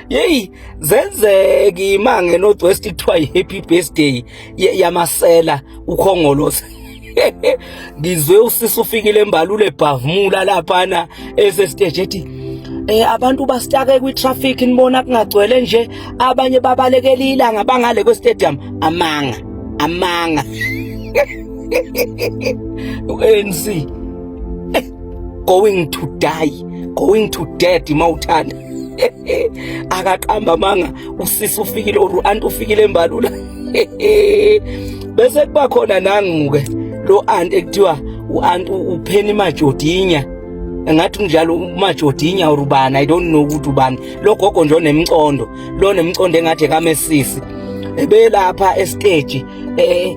yeyi zenzeke imange north west kuthiwa yi-happy birthday yamasela ukhongolose ngizwe usisi ufikile embalule bhavumula laphana esesiteji ethi eh abantu basitake kwi traffic nibona kungagcwele nje abanye babalekela ilanga bangale kwe stadium amanga amanga ANC eh, going to die going to dead mawuthanda akaqamba manga usisi ufikile or anti ufikile embalula bese kuba khona nanguke lo anti ekuthiwa uanti upheni majodinya ngathi njalo umajodinya or ubani i don't know ukuthi ubani lo gogo nje onemcondo lo nemcondo engathi kamesisi ebelapha estage eh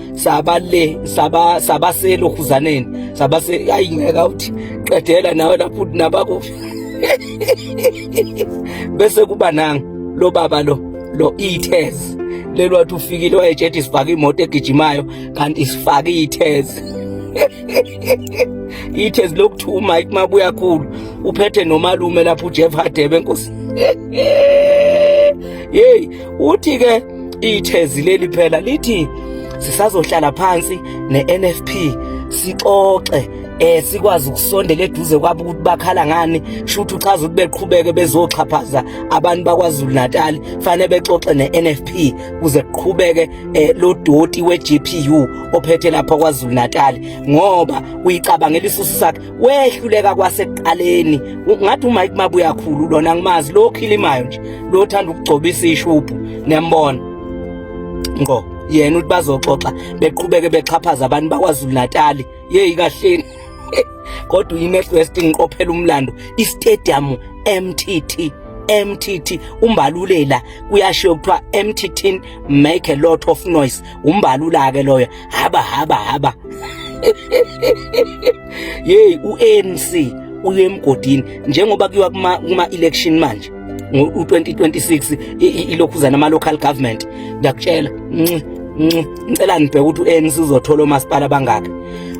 saba le saba saba selokhuzaneni saba se ayi ngeke uthi qedela nawe lapho nabakuphi bese kuba nanga lo baba lo lo ithezi lelo wathi ufikile wayejeti isifake imoto egijimayo kanti isifake ithezi ithezi lokuthi uMike mabuya khulu uphethe nomalume lapho uJeff Hadebe nkosi hey uthi ke Ithezi leli phela lithi sisazohlala phansi neNFP sixoxe eh sikwazi ukusondela eduze kwabo ukuthi bakhala ngani shuthi uchaza ukuthi beqhubeke bezoxhaphaza abantu bakwaZulu Natal fanele bexoxe neNFP kuze kuqhubeke eh, lo doti weGPU ophethe lapha kwaZulu Natal ngoba uyicabangela isusu sakhe wehluleka kwasekuqaleni ngathi uMike Mabuya khulu lona ngimazi lo khilimayo nje lo thanda ukugcobisa ishubhu nembona ngo yena uthi bazoxoxa beqhubeke bexhaphaza abantu bakwaZulu Natal yeyi kahleni kodwa uyinext west ngiqophela umlando istadium MTT MTT umbalulela kuyashiyo kuthiwa MTT make a lot of noise umbalula ke loyo haba haba haba yeyi u-anc uye emgodini njengoba kuyiwa kuma-election manje u-2026 ilokhuzana ama-local government ngiyakutshela ngicela nibheke ukuthi u-anc uzothola omasipala bangaki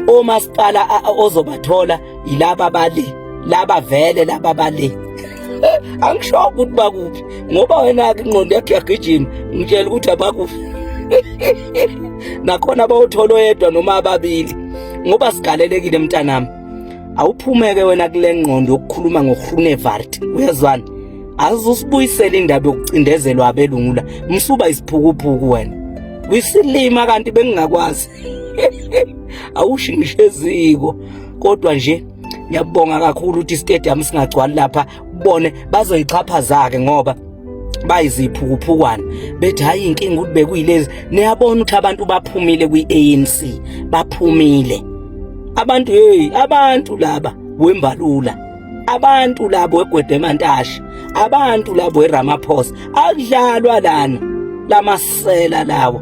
omasipala ozobathola yilaba bali laba vele laba bali angisho ukuthi bakuphi ngoba wena ke ingqondo yakhe yagijima ngitshela ukuthi abakuphi nakhona bawuthola oyedwa noma ababili ngoba sigalelekile mntanami awuphumeke wena kule ngqondo yokukhuluma ngohrunevart uyezwana azusibuyisela indaba yokucindezelwa abelungula msuba isiphukuphuku wena wisilima kanti bengingakwazi awushingishe eziko kodwa nje ngiyabonga kakhulu ukuthi stadium singagcwali lapha bone bazoyixhaphaza ke ngoba bayiziphukuphukwani bethi hayi inkinga ukuthi bekuyilezi niyabona ukuthi abantu baphumile kwi-ANC baphumile abantu hey abantu laba wembalula abantu labo egwedemantasha abantu labo eramaphosa akudlalwa lana lamasela lawo